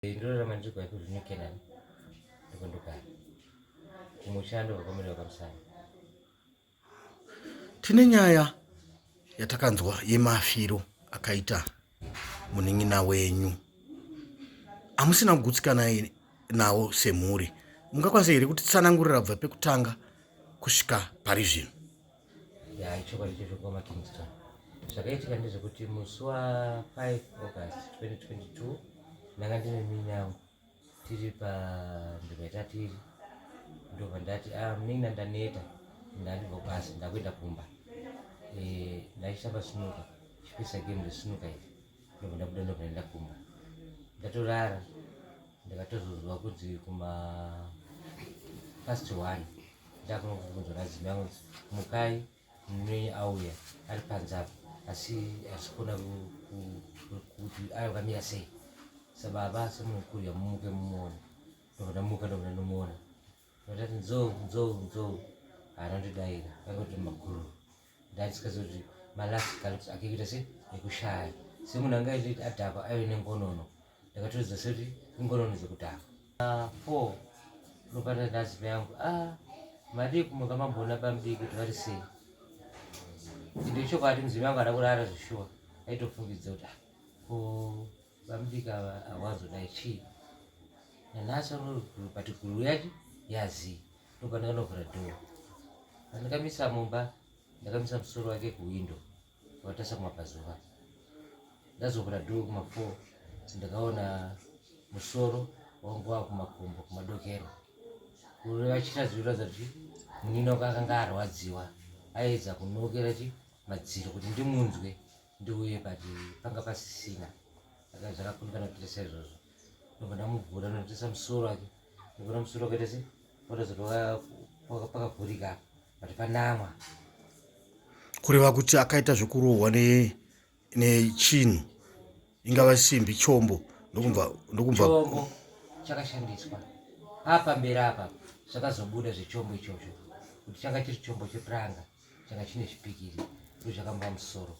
ndinorarama ndiri kwaiko zvino kenani ndiko ndogara kumushando vakomere vakamusana tine nyaya yatakanzwa yemafiro akaita munin'ina wenyu hamusina kugutsikana nawo semhuri mungakwanisa here kuti tsanangurira bva pekutanga kusvika pari zvino ya ichokwadi checho kukoma kingston zvakaitika ndezvekuti musi wa 5 august 2022 ndanga ndine minyangu tiri panzvimbo yatatiri ndobva ndati ah, mina ndaneta ndandibva kwasi ndakuenda kumba eh, ndaisamba sinuka chipisa game resinuka iri ndokuda kudonda pane ndakumba ndatorara ndakatozozwa kuti kuma past one ndakunongokunzwa nazimi yangu mukai mnenyi auya ari panze apo asi asikona kuti ayo kamira sei sababa semunhu kurya mumuke mumuona ndokuda muka ndokuda ndomuona Ndati nzou nzou nzou anondidaira akati maguru ndandisikazivi kuti malast galups ake kuita se ekushaya semunhu anga aitoti adhakwa aive nengonono ndakatoridza sekuti ingonono dzekudhakwa ah, four ndopata ndaziva yangu a ah, madii kumuka mambona pamdii kuti vari sei ende chokwadi mudzimu yangu ada kurara zvishuwa aitofungidza kuti ah, ko Vamubika ava hawazodai chii nanhasi vanoguru but guru yacho yazii ndopandakanovhura dhoo pandakamisa mumba ndakamisa musoro wake kuwindo watarisa kumapazuva ndazovhura dhoo kumafo ndakaona musoro wangu wava kumakumbo kumadokero kureva chitazviratidza kuti munini wako akanga arwadziwa aedza kunokera chi madziro kuti ndimunzwe ndiuye but panga pasisina aka zvakakundikana kuita saizvozvo ndobva ndamuvhura ndotarisa musoro wake ndobva musoro wakaita se watazoti pakavhurika but panamwa kureva kuti akaita zvekurohwa nechinhu ingava simbi chombo ndokumva ndokumva chombo chakashandiswa apa mberi apa zvakazobuda zvechombo ichocho kuti changa chiri chombo chepuranga changa chine zvipikiri ndo zvakamba musoro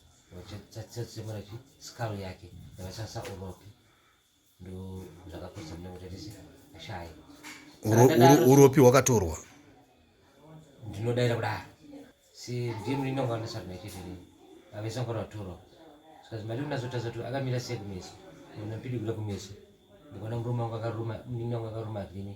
chatsatsemura chi skull yake yakasasa uropi ndo zvakapedza mune kutatisi ashayi uropi hwakatorwa ndinodaira kudaro si ndiye mulinda ngwana sati naitezvini avesa ngwana vatorwa zikazi mari kunazotasa kuti akamira sei kumeso ona mpidi kuda kumeso ndikona murume wangu akaruma muningi wangu akaruma vhini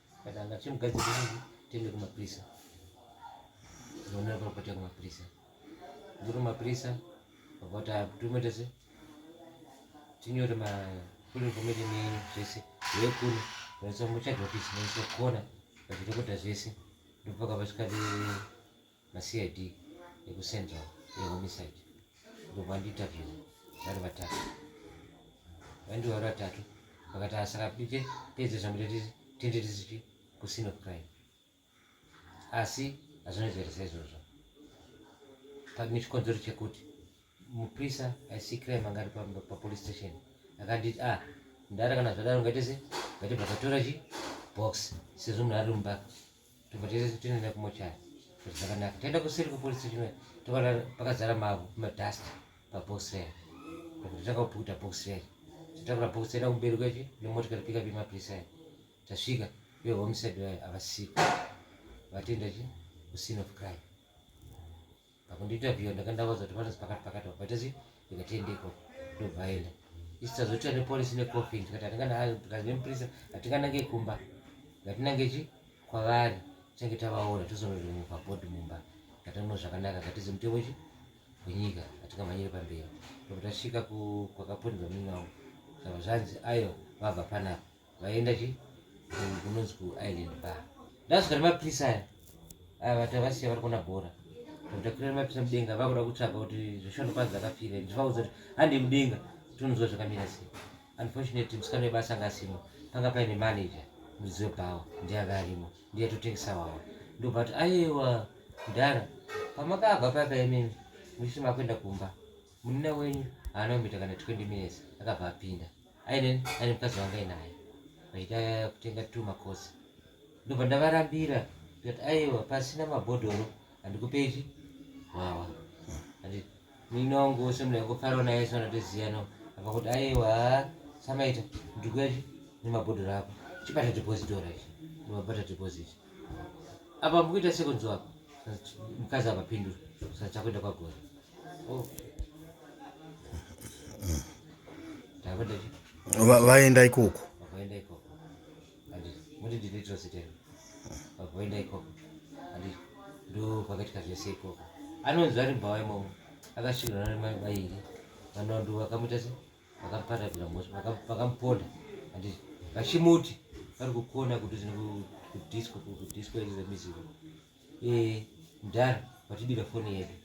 Katanga chimugadzi kuti tiende kumapurisa. Ndinoona kuti kwatanga kumapurisa. Ndiri kumapurisa vakati tumoita se tinyore ma full information yenyu zvese yekuno vaisa muchadhokisi vaisa kona vachitokota zvese ndopaka vasvikati macid ekucentral ehomicide ndobva vandiinterview vari vatatu vandiwa vari vatatu vakati asaka ah, pite pedze zvamutetisi tende tisichi kusino crime asi hazvinozeresa izvozvo pane chikonzero chekuti muprisa aisikirai mangari papolice station akanditi a ah, ndara kana zvadaro ngaitese ngati bakatora chi box sezvo munhu ari mumba tobva tese tinoenda kumochari kuti zvakanaka taenda kuseri kwepolice station toona pakazara mavhu madust pabox raya kuti takaputa box raya tatakura box taenda kumberi kwechi nemotikari pika pemapurisa aya tasvika ivo homicide vayo havasiko vatienda chi kuscene of crime pakundiinterviewa ndakandavaudza kuti vanozi pakati pakati vapaita sei ndikati endeko ndobva aenda isisazoita nepolice necoffin tikati atinganemuprisa hatinganange kumba ngatinange chi kwavari tinenge tavaona tozonorimuka bod mumba ngatamuno zvakanaka ngatizi mutemo chi wenyika hatingamhanyire pamberi ndokutasvika kwakaponderwa mimwe wavo zvava zvanzi ayo vabva panapa vaienda chi kunonzi kuisland bar ndasvika nemapirisa aya aya vati avasiya vari kuona bhora takurira mapirisa mudenga vakuda kutsvaga kuti zvishando kwanzi akafira ndivaudza kuti handi mudenga tononzwa zvakamira sei unfortunately musikana webasa anga asimo panga paine manager muridzi webhawa ndiye anga arimo ndiye atotengesa wawa ndobva kuti aiwa mudhara pamakabva paka imimi muchiti makuenda kumba munina wenyu haana kumita kana 20 minutes akabva apinda aine aine mukadzi wanga inaye vaita kutenga two makosi ndobva ndavarambira tikati aiwa pasina mabhodhoro handikupeizvi wawa ati muine wangu wose munhu yakufarawo naye sona toziyana akakuti aiwa samaita ndikuya nemabhodhoro ako chibata depositora ichi nemabata depositor apa mukuita sekunzwa apa mukadzi avapindura saka chakuenda kwagore oh. vaenda ikoko vaenda ikoko muti ndinoitira sitero vaenda ikoko andi ndo pakaitika zvese ikoko anonzi vari mbava imomo akasvikirana nemai vairi vanondu vakamuita se vakaparadza vakamuponda and vachimuti vari kukona kuti kudisco kudisco yedu zemizivo eh, mdhara vatibira foni yedu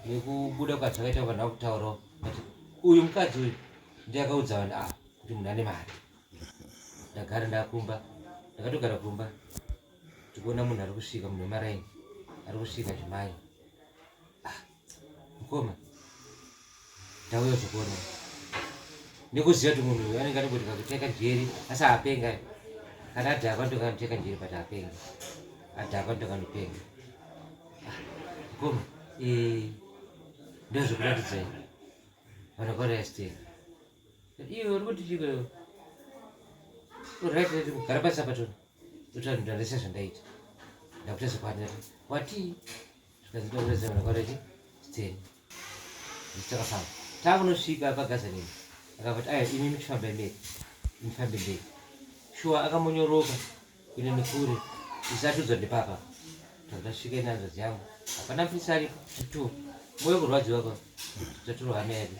nekubuda kwacho vakaita vanhu vakutaurawo ati uyu mukadzi uyu ndiye akaudza vanhu ava kuti munhu ane mari ndagara ndakumba ndakatogara kumba tikuona munhu ari kusvika munhu wemaraini ari kusvika zvimai ah. mukoma ndauya zvekuona nekuziva kuti munhu uyu anenge anogoti kakuteka njeri asi apenga kana adhakwa ndokanoteka njeri but apenga adhakwa ndokanopenga mukoma eh, ndozvekuratidzai vanhu vakarastea iwe uri kuti chiko urit kugara pasi apa tona totanhu ndarese zvandaita ndakuta zvapanera watii takafamba takunosvika pagazanini akavati aya imi muchifamba mberi mufambe mberi shuwa akamonyoroka kuenda nekure isatudzwa ndepapa takasvika inanzvadzi yangu hapana mfisari tu moyo kurwadziwa pa taturo hama yake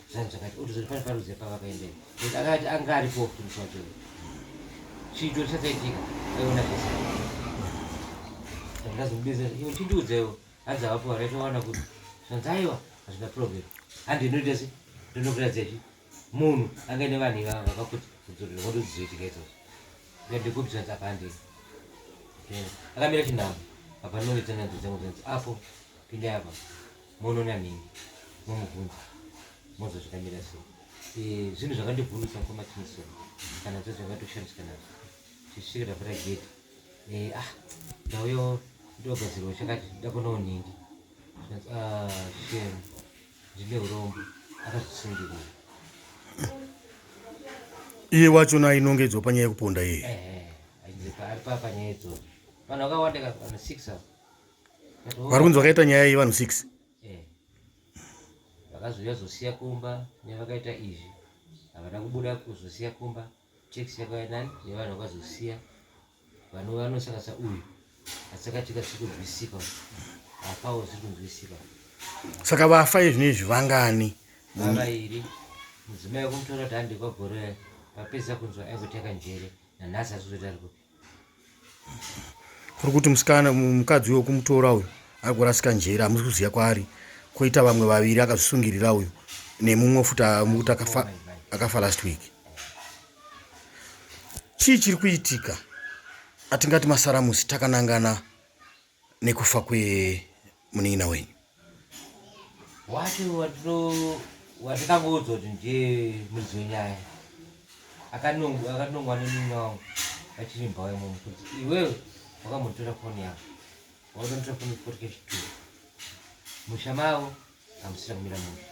zvanhu zvakati otozoti pane paruzi pavakaendei but akati anga aripo mutumisi wacho chiito chakaitika aiona zvese ndazomubizira iwe chindiudzewo hanzi havapo vakaitowana kuti zvanzi aiwa hazvina problem handi inoita se ndinokuratidzachi munhu anga ine vanhu ivava vakakuti kudzorera wati udzizoitika izvozvo ndikupi zvanzi apa handei akamira chinhamo apa ndinonge tsananzi dzangu zvanzi apo pindai apa monoona nini momubvunza moza zvakamira so eh, zvinhu zvakandibvunisa kwamatinisona kana zvo zvakatoshandiswa nazvo zvisvikira pata gate eh, ah ndauyo ndogadzirwa chakati ndakonawo nhingi ah, shem ndine urombo akazvisungirira iye wacho na inonge idzo panyaya yekuponda iye eh, eh, ari papa nyaya idzo vanhu vakawanda kana six avo vari kunzi vakaita nyaya yevanhu six eh. vakazouya zosiya kumba nevakaita izvi havana kubuda kuzosiya kumba tax yakauya nani nevanhu vakazosiya vanhu vanosakasa uyu asaka tika tiri kunzwisika apawo ziri kunzwisika saka vafa izvino izvi vangani vavairi mudzimai wekumutora kuti handikwa gore papedza kunzwa aingoteka njere nanhasi azozoita rikupi kuri kuti musikana mukadzi uyo kumutora uyu ari kurasika njere hamusi kuziva kwaari koita vamwe vaviri akazvisungirira uyu nemumwe futi mukuti akafa last week chii chiri kuitika atingati masaramusi takanangana nekufa kwemunin'ina wenyu wacho watikangoudzwa kuti ndiye muridzi wenyaya akanongwa nemunin'ina wangu achiri mbawa imomo kuti iwewe wakambotora foni yavo wakambotora foni kuporike chitu musha mavo hamusina kumira munhu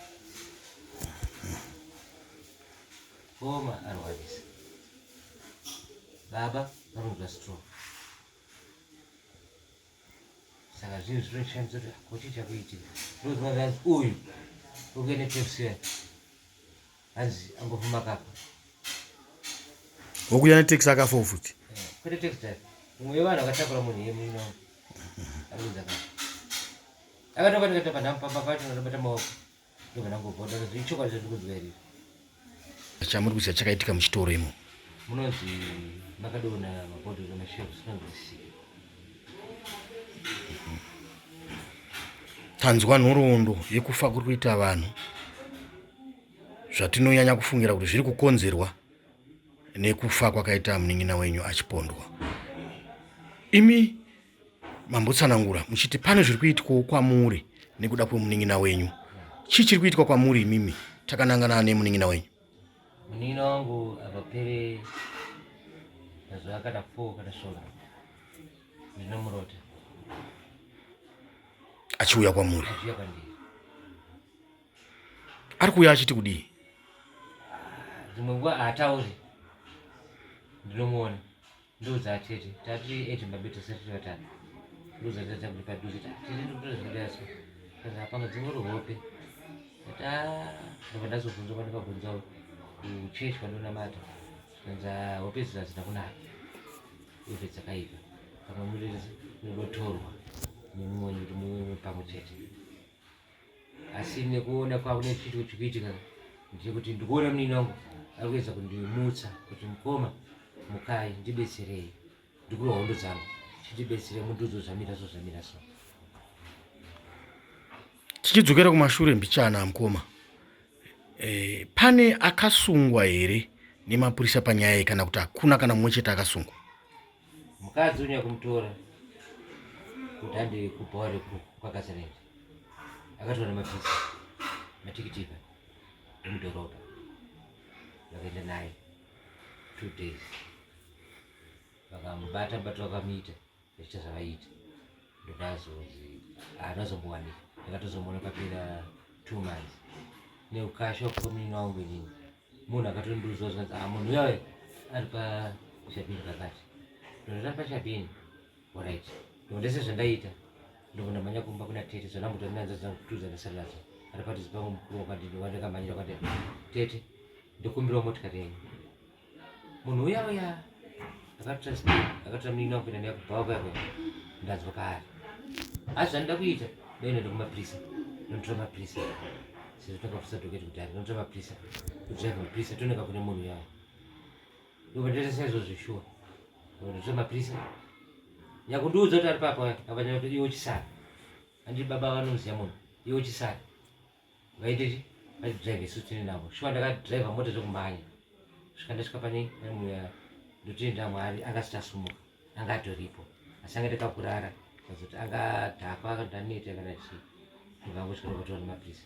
koma arwarisa baba vanonzwa stroke saka zvinhu zvinoshandisa kuti hakuti chakuitika ndoziva zvanzi uyu ukuende tepsiya hanzi angofuma kapa okuya neteksi akafoo futi eh, kwete teksi dai mumwe wevanhu akatakura munhu iye muino aruza kapa akatoka ndikatapa ndamupamba pacho ndabata maoko chamuri kuziva chakaitika muchitoro imo munonzi makadona mabhodhoro mashelves panzisika tanzwa nhoroondo yekufa kuri kuita vanhu zvatinonyanya kufungira kuti zviri kukonzerwa nekufa kwakaita munin'ina wenyu achipondwa imi mambotsanangura muchiti pane zviri kuitwawo kwamuri nekuda kwemunin'ina wenyu chii chiri kuitwa kwamuri imimi takanangana nemunin'ina wenyu munin'ina wangu akapere mazuva akada four kana svondo ndinomurota achiuya kwamuri achiuya kwandiri ari kuuya achiti kudii dzimwe nguva haatauri ndinomuona ndoudza atete tati ete babe tasati vatatu ndoudza tata kuti paduze tete ndikutoda zvakadaiso kana hapana dzimwe ruhope ati a ndobva ndazobvunza kwandikabvunza kuchechi kwandonamata zvikanzi hope idzi hadzina kunaka ive dzakaipa pamwe muridzi unodotorwa nemumonyi kuti mumwe pamwe chete asi nekuona kwavo nechiti kuti kuitika ndiri kuti ndikuona munini wangu ari kuedza kundimutsa kuti mukoma mukai ndibetserei ndikuro hondo dzangu chitibetsere mundiudzo zvamira so zvamira so tichidzokera kumashure mbichana mukoma e, pane akasungwa here nemapurisa panyaya iyi kana kuti hakuna kana mumwe chete akasungwa Mukadzi unya kumutora kuti andi kubhawa rekukakasarenji akatora nemapisi matikitika emudhorobha vakaenda naye two days vakamubata bata vakamuita vachiita zvavaiita ndokazonzi anozombowanika ndakatozomuona papera two months neukasha kukominwa umwe nini munhu akatondiudza zvanzi ah munhu uya ari pashabhini pakati ndonera pashabhini orit ndondese zvandaita ndovona manya kumba kuna tete zvanamutorinanzazankutuza ndasalaza ari pati zipangu mukuru wakadini wandakamanyira kwati tete ndokumbirawo motikari yenyu munhu uya uya akatora muningi wangu kuenda neya kubva wakuyako ndanzwa paari asi zvandida kuita ndaenda ndokumapurisa ndotora mapurisa Sezvo takafusa doketi kudhara, tinotora mapirisa, kudzira mapirisa toneka kune munhu yayo. Ndopataita saizvo zveshuwa. Ndinotora mapirisa. Nyakundiudza kuti ari papa wacho, apa nyakuti iwe uchisara. Andiri baba vanoziva munhu, iwe uchisara. Vaiteti, vaitidrive isu tiri navo. Shuwa ndakadrive mota dzokumhanya. Kusvika ndasvika pane munhu yayo. Ndotenda Mwari akasita sumuka. anga atoripo asi anga ndaka kurara azoti anga dhakwa akandaneta kana chii ndivangosvika kutoona mapiritsi